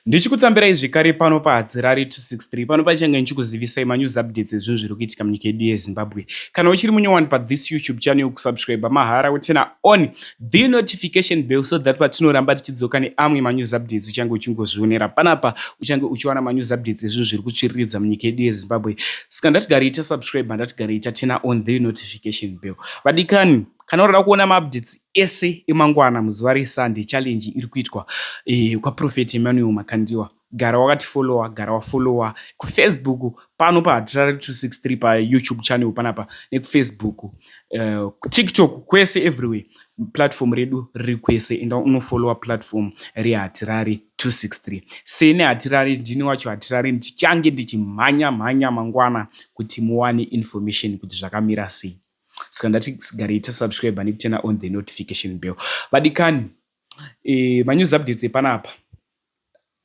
Ndichikutsambirai zvekare pano paHadzirari 263 pano pachange ndichikuzivisai manews updates ezvinhu zviri kuitika munyika yedu yeZimbabwe. Kana uchiri munyowani pathis YouTube channel kusubscribe mahara wotena on the notification bell so that patinoramba tichidzoka neamwe manews updates uchange uchingozvionera panapa uchange uchiwana manews updates ezvinhu zviri kutsviriridza munyika yedu yeZimbabwe. Saka ndatigare ita subscribe handatigarei tatena on the notification bell. Vadikani kana unoda kuona maupdates ese emangwana muzuva reSunday challenge iri kuitwa eh, kwaProphet Emmanuel Makandiwa gara wakatifollowa gara wafollowa kufacebook pano pahatirare 263 payoutube channel panapa nekufacebook uh, eh, tiktok kwese everywhere platform redu riri kwese enda unofollowa platform rehatirare 263 sene hatirare ndini wacho hatirare ndichange ndichimhanya mhanya mangwana kuti muwane information kuti zvakamira sei saka ndati sigarei tasubscribe nekutena on the notification bell vadikani e, manews updates epanapa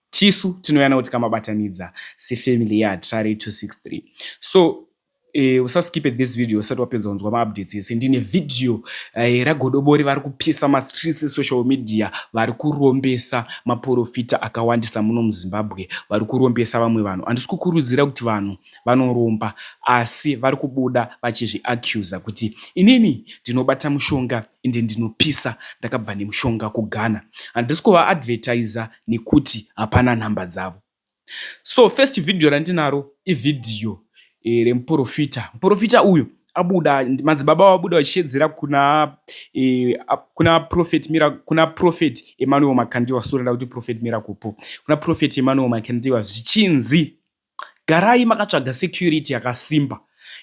tisu tinoyana kuti kamabatanidza sefamily yehatrare 263 so e, usaskipe this video usati wapedza kunzwa maupdates ese ndine video e, ragodobori vari kupisa mastreets esocial media vari kurombesa maporofita akawandisa muno muzimbabwe vari kurombesa vamwe vanhu handisi kukurudzira kuti vanhu vanoromba asi vari kubuda vachizviaccuser kuti inini ndinobata mushonga ende ndinopisa ndakabva nemushonga kughana handisi kuvaadvertiser nekuti hapana nhamba dzavo so first video randinaro ivhidhiyo e, remuprofita muprofita uyu abuda madzibaba vabuda vachishedzera kuna e, kuna prophet mira kuna prophet emmanuel makandiwa sorenda kuti prophet miracle po kuna prophet emmanuel makandiwa zvichinzi Garai makatsvaga security yakasimba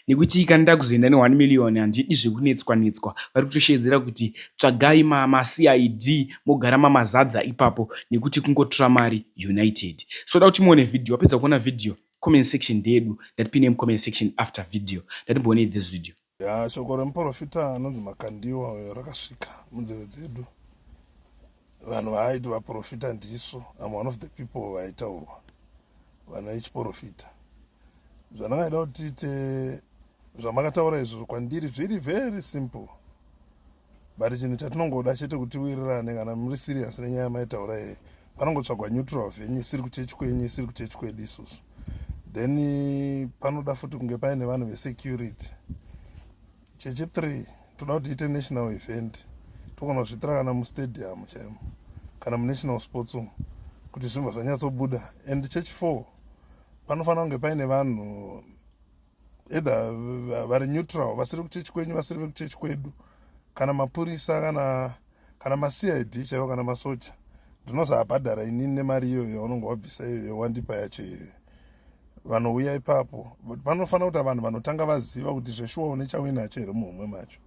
nekuti kana ndakuzoenda ne 1 million handidi zvekunetswa netswa vari kutosheedzera kuti tsvagai ma, ma CID mogara mamazadza ipapo nekuti kungotora mari united so da kuti muone video wapedza kuona video comment section ndeyedu ndatipi name comment section after video ndatimboonei this video Ya shoko remuporofita anonzi Makandiwa uyo rakasvika munzeve dzedu. Vanhu vaaiti vaporofita ndisu, am one of the people vaitaurwa vana vechiporofita. Zvandakaida kuti tiite zvamakataura izvozvo kwandiri zviri very simple. but chinhu chatinongoda chete kuti wirirane kana muri serious nenyaya maitaura yeye panongotsvagwa neutral venyu isiri kuchechi kwenyu isiri kuchechi kwedu isusu then eh, panoda futi kunge paine vanhu vesecurity chechi three toda kuti ite national event togona kuzvitira kana mustadium chaimo kana munational sports umu kuti zvimba zvanyatsobuda and church four panofanira kunge paine vanhu either vari neutral vasiri kuchechi kwenyu vasiri vekuchechi kwedu kana mapurisa kana kana macid chaivo kana masoja ndinozoabhadhara inini nemari iyoyo yaunonge wabvisa iyoyo wandipa yacho iyoyo vanouya ipapo panofanira kuti vanhu vanotanga vaziva kuti zveshuwa une chauinacho here muhomwe macho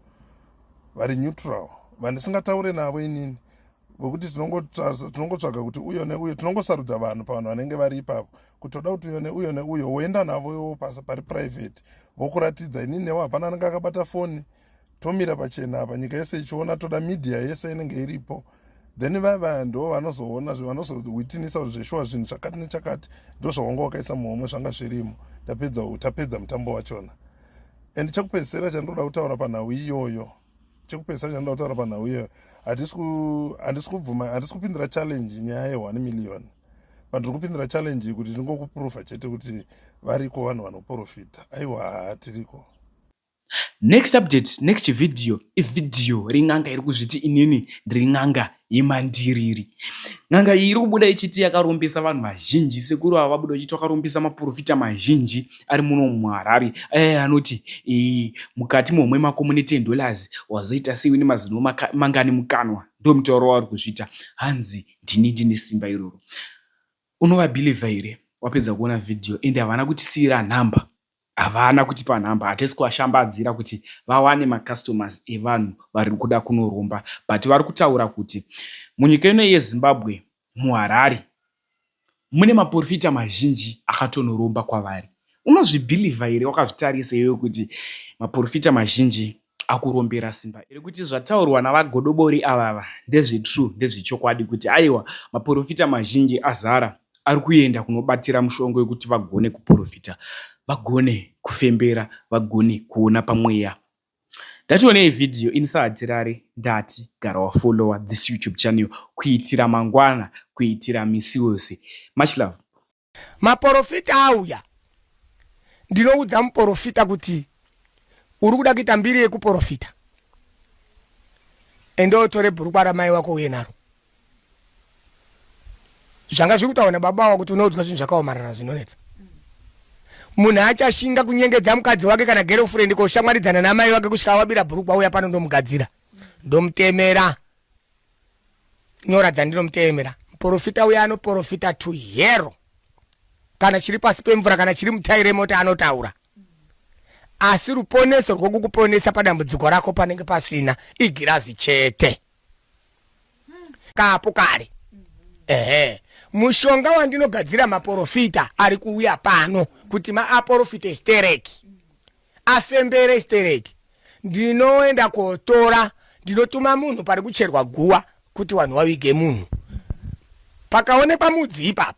vari neutral vandisingataure navo inini wekuti tinongotsvaga kuti uyo neuyo tinongosarudza vanhu pavanhu vanenge vari ipapo kuti toda kuti uyo neuyo neuyo woenda navo iwo pasa pari private vokuratidza inini newo hapana anenge akabata foni tomira pachena apa nyika yese ichiona toda media yese inenge iripo then vaya vaya ndo vanozoona vanozowitinisa kuti zveshuwa zvinhu zvakati nechakati ndo zvawanga wakaisa muhomwe zvanga zvirimo tapedza tapedza mutambo wachona and chekupedzisira chandinoda kutaura panhau iyoyo chekupedzisa chanoda kutaura panhau uye handisi kubvuma handisi kupindira challenge nyaya ye1 million but ndiri kupindira challenge kuti ndingokuprova chete kuti variko vanhu vanoprofita aiwa haa tiriko next update next video ivideo ring'anga iri kuzviti inini ndiri n'anga yemandiriri n'anga iyi iri kubuda ichiti yakarombesa vanhu vazhinji sekuru ava vabuda vachiti vakarombesa maporofita mazhinji ari muno muharare aye anoti e, mukati momwe mako mune 10 dollars wazoita sei une mazino mangani mukanwa ndo mutauro wavari kuzviita hanzi ndini ndine simba iroro unovabhilivha here wapedza kuona vhidhiyo ende havana kutisiyira nhamba Havana kutipa number hatisi kuvashambadzira kuti vawane macustomers evanhu vari kuda kunoromba but vari kutaura kuti munyika ino yeZimbabwe muHarare mune maporofita mazhinji akatonoromba kwavari. Unozvibhilivha here wakazvitarisa iwe kuti maporofita mazhinji akurombera simba iri kuti zvataurwa navagodobori avava ndezvetrue ndezvechokwadi kuti aiwa maporofita mazhinji azara ari kuenda kunobatira mushongo wekuti vagone kuporofita vagone kufembera vagone kuona pamweya ndationei vhidhiyo ini sahatirari ndati gara wafollowa this youtube channel kuitira mangwana kuitira misi wose much love maporofita auya ndinoudza muporofita kuti uri kuda kuita mbiri yekuporofita ende otore bhurukwa ramai wako uye naro zvanga zviri kutaura nababa wako kuti unoudzwa zvinhu zvakaomarara zvinonetsa munhu achashinga kunyengedza mukadzi wake kana gerofurendi koshamwaridzana namai wake kusvika awabira bhurukwa uya pano ndomugadzira ndomutemera nyora dzandinomuteemera muporofita uya anoporofita to hero kana chiri pasi pemvura kana chiri mutai remota anotaura asi ruponeso rwokukuponesa padambudziko rako panenge pasina igirazi chete kapo kare ehe mushonga wandinogadzira maporofita ari kuuya pano kuti maaporofite stereki afembere stereki ndinoenda kotora ndinotuma munhu pari kucherwa guwa kuti vanhu vavige munhu pakaonekwa mudzi ipapo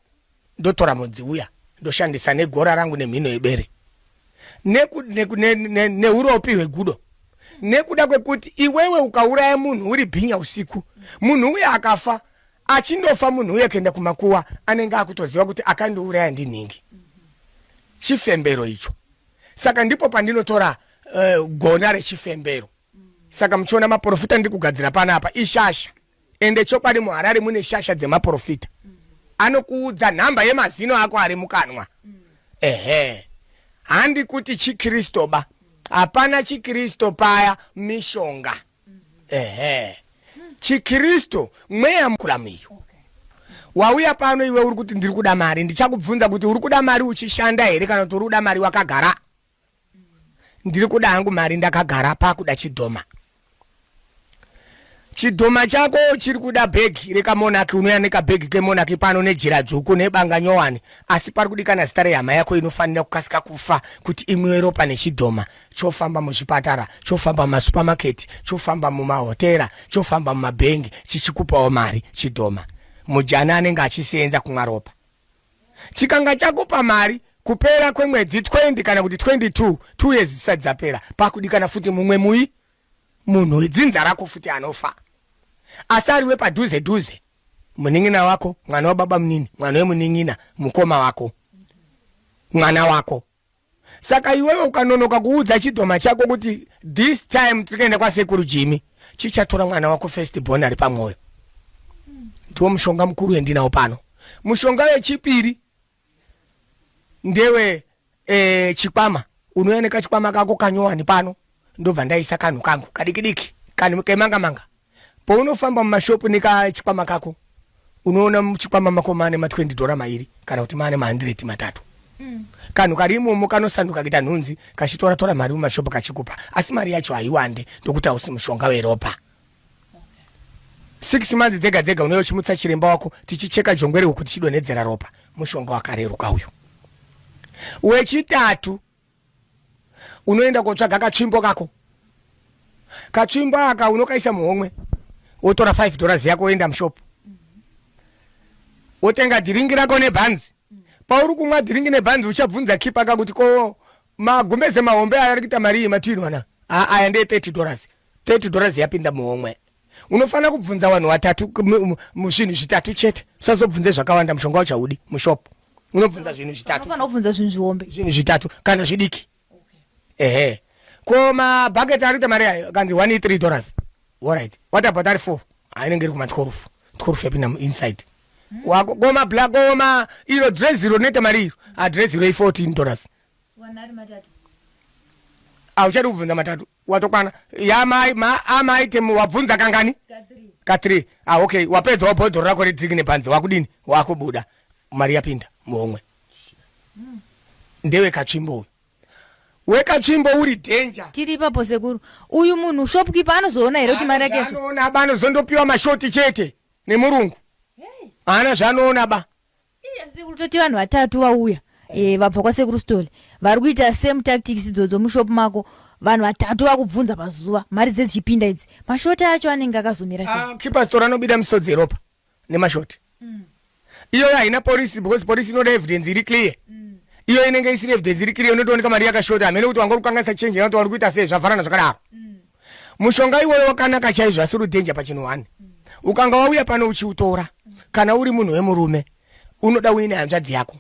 ndotora mudzi uya ndoshandisa negora rangu nemhino yebere neuropi hwegudo nekuda kwekuti iwewe ukauraya munhu uri bhinya usiku munhu uye akafa achindofa munhu uye kuenda kumakuwa anenge akutoziva kuti akandiuraya ndinhingi chifembero icho saka ndipo pandinotora uh, gona rechifembero saka muchiona maprofita ndiri kugadzira panapa ishasha ende chokwadi muharare mune shasha dzemaprofita anokuudza nhamba yemazino ako ari mukanwa ehe handi kuti chikristo ba hapana chikristo paya mishonga ehe chikristu mweya mukuramiyo okay. wauya pano iwe uri kuti ndiri kuda mari ndichakubvunza kuti uri kuda mari uchishanda here kana kuti uri kuda mari wakagara ndiri kuda hangu mari ndakagara pakuda chidhoma chidhoma chako chiri kuda bhegi rekamonaki unouya nekabhegi kemonaki pano nejira dzvuku nebanga nyowani asi pari kudikana zita rehama yako inofanira kukasika kufa kuti imwiwe ropa nechidhoma chofamba muzvipatara chofamba mumasupamaketi chofamba mumahotera chofamba mumabhengi chichikupawo mari chidhoma mujani anenge achiseenza kumwa ropa chikanga chakupa mari kupera kwemwedzi 20 kana kuti 22 two years dzisati dzapera pakudikana futi mumwe mui munhu wedzinza rako futi anofa asi ariwe padhuze dhuze munin'ina wako mwana wababa munini mwana wemunin'ina mukoma wako mwana wako saka iwewe ukanonoka kuudza chidhoma chako kuti this time tikaenda kwasekuru jimi chichatora mwana wako first born ari pamwoyo ndiwo mushonga mukuru wendinawo pano mushonga wechipiri ndewe e, chikwama unouya nekachikwama kako kanyowani pano ndobva ndaisa kanhu kangu kadikidiki kanhu kemangamanga Pounofamba mumashopu nekachikwama kako unoona muchikwama mako mane ma 20 dhora mairi kana kuti mane ma 100 matatu mm. kanhu kari imomo kanosanduka kuita nhunzi kachitora tora mari mumashopu kachikupa asi mari yacho haiwande ndokuti hausi mushonga weropa okay six months dzega dzega unouya uchimutsa chiremba wako tichicheka jongwe rehuku tichidonhedzera ropa mushonga wakareruka uyu wechitatu unoenda kotsvaga katsvimbo kako katsvimbo aka unokaisa muhomwe wotora 5 dollars yako woenda mushop wotenga dhiringi rako nebhanzi pauri kumwa dhiringi nebhanzi uchabvunza kipa ka kuti ko magumbeze mahombe aya ari kuita marii matiinwana aya ndee 30 dollars 30 dollars yapinda muhomwe unofanira kubvunza vanhu vatatu zvinhu zvitatu chete usazobvunze zvakawanda mushonga uchaudi mushop unobvunza zvinhu zvitatubvunza zvinhu zvihombe zvinhu zvitatu kana zvidiki ehe ko mabhaket ari kuita mari ayo kanzi one three dollars orit what about ari four ainenge iri kumatworufu tworufu yapinda muinside wako koma black koma iro dress iro rinoita mari iro adress iro i fourteen dollars auchadi kubvunza matatu watokwana ya mai ma amai temu wabvunza kangani ka three ah okay wapedza wabhodhoro rako redziki nepanze wakudini wakubuda mari yapinda muhomwe mm. ndewe kachimbo uyu wekachimbo uri danger tiri ipapo sekuru uyu munhu shopkeeper anozoona here kuti mari yake anoona ba anozondopiwa mashoti chete nemurungu haana zvaanoona ba Iya sekuru toti vanhu vatatu vauya eh, vabva kwasekuru stole vari kuita same tactics idzodzo mushop mako vanhu vatatu vakubvunza pazuva mari dzedzichipinda idzi mashoti acho anenge akazomira sei Ah, keepers tora anobida misodzi yeropa nemashoti iyoyo haina polisi because polisi inoda evidence iri clear iyo inenge isiri evidence iri clear unotooneka mari yakashota hamene kuti wanga uri kukanganisa change kana kuti wari kuita sei zvavharana zvakadaro mushonga iwoyo wakanaka chaizvo asi uri dhenja pachinhu one ukanga wauya pano uchiutora kana uri munhu wemurume unoda uine hanzvadzi yako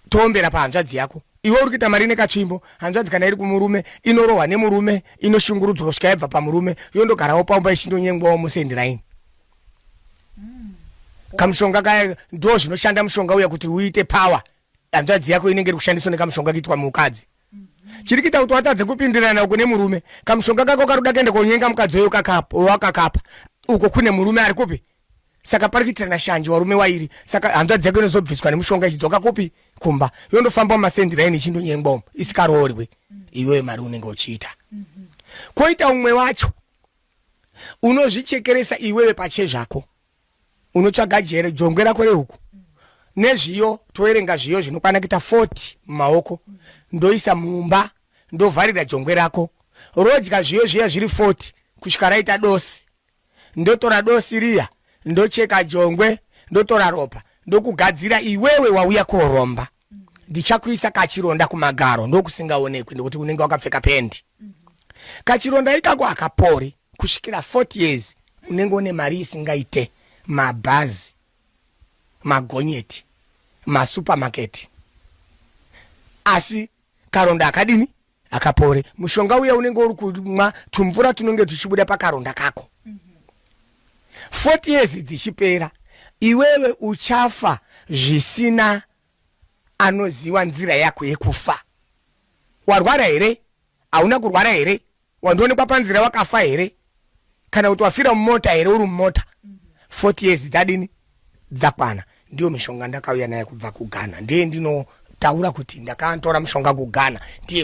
toombera pahanzvadzi yako iwe uri kuita mari nekatsvimbo hanzvadzi kana iri kumurume inorohwa nemurume inoshungurudzwa kusvika yabva pamurume yondogarawo pamba ichindonyengwawo musendiraini hmm. kamushonga kaya ndo zvinoshanda mushonga uya kuti uite power hanzvadzi yako inenge iri kushandiswa nekamushonga kuitwa mukadzi chiri kuita kuti watadze kupindirana uko nemurume kamushonga kako kari kuda kuenda konyenga mukadzi uyo wakakapa uko kune murume ari kupi saka pari kuitirana shanje warume wairi saka hanzvadzi yako inozobviswa nemushonga ichidzoka kupi kumba yondofamba mumasendiraini ichindonyengwa umo isikaroorwi iwee mari unenge uchiita kwoita umwe wacho unozvichekeresa iwewe pache zvako unotsvaga jere jongwe rako rehuku nezviyo toerenga zviyo zvinokwana kuita 40 mumaoko ndoisa mumba ndovharira jongwe rako rodya zviyo zviya zviri 40 kusvika raita dosi ndotora dosi riya ndocheka jongwe ndotora ropa ndokugadzira iwewe wauya koromba ndichakuisa kachironda kumagaro ndokusingaonekwi nekuti unenge wakapfeka pendi kachironda ikako hakapori kusvikira 40 years unenge une mari isingaite mabhazi magonyeti masupermaketi asi karonda akadini akapore mushonga uya unenge uri kumwa tumvura tunenge tuchibuda pakaronda kako 40 years dzichipera iwewe uchafa zvisina anoziva nzira yako yekufa warwara here hauna kurwara here wandionekwa panzira wakafa here kana kuti wafira mumota here uri mumota 40 years dzadini dzakwana ndiyo mishonga ndakauya naye kubva kughana ndiye ndinotaura kuti ndakantora mushonga kughana ndiye